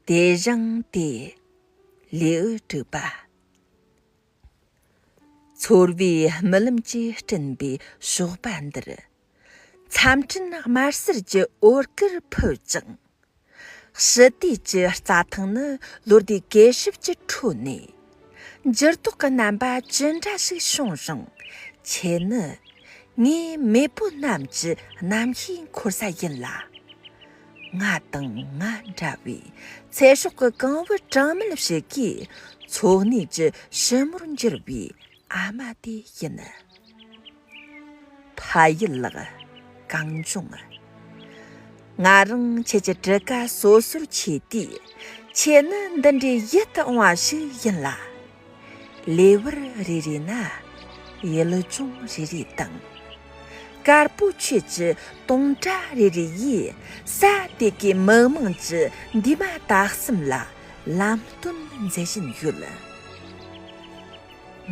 བདེ་འབྱང་སྟེ། ལེའུ་དྲུག་པ། ཚོར་བའི་རྨི་ལམ་གྱིས་སྐྲུན་པའི་གཤོག་པ་འདིར། མཚམས་སྤྲིན་དམར་སེར་གྱི་འོད་དཀར་འཕོས་ཀྱང། ཞི་བདེ་ཀྱི་རྩྭ་ཐང་ནི་ལོ་ཟླའི་གད་ཞིབ་ཀྱི་ཁྲོད་ནས། འགྱུར་ལྡོག་གི་རྣམ་པ་ཇི་འདྲ་ཞིག་བྱུང་རུང་ཁྱེད་ནི་ངའི་མེས་པོ་རྣམས་ཀྱི་གནམ་གཤིས་འཁོར་ས་ཡིན་ལ། ང་དང་ང་འདྲ་བའི་ཚེ་སྲོག་གི་གང་བུ་གྲངས་མེད་ཞིག་གི་འཚོ་གནས་ཀྱི་ཞི་མོར་འགྱུར་བའི་ཨ་མ་དེ་ཡིན། ཕ་ཡུལ་ལགས། གངས་ལྗོངས་ཨ། ང་རང་ཁྱེད་ཀྱི་བྲི་ཀ་སོ་སོར་ཆས་དུས། ཁྱེད་ནི་འདི་འདྲའི་ཡིད་དུ་འོང་བ་ཞིག་ཡིན་ལ། ལེ་དབར་རེ་རེ་ན། ཡུལ་ལྗོངས་རེ་རེ་དང། དཀར་པོ་ཆོས་ཀྱི་སྟོང་སྒྲ་རེ་རེ་ཡིས། ས་དེ་གའི་མི་དམངས་ཀྱི་འདུས་མ་དག་གསུམ་ལ་ལམ་སྟོན་མཛད་བཞིན་ཡོད།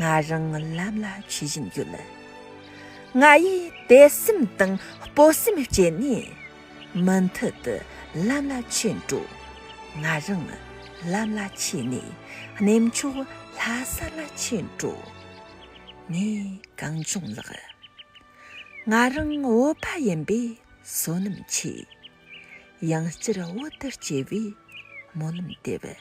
ང་རང་ལམ་ལ་ཆས་བཞིན་ཡོད། ང་ཡིས་དད་སེམས་དང་སྤོབས་སེམས་སྐྱེད་ནས། མུ་མཐུད་དུ་ལམ་ལ་ཆས་འགྲོ། ང་རང་ལམ་ལ་ཆས་ནས་གནས་མཆོག་ལྷ་ས་ལ་ཆས་འགྲོ། ངས་གངས་ལྗོངས་ལགས། ང་རང་བོད་པ་ཡིན་པས་བསོད་ནམས་ཆེ། ཡང་བསྐྱར་བོད་དུ་སྐྱེ་བའི་སྨོན་ལམ་འདེབས།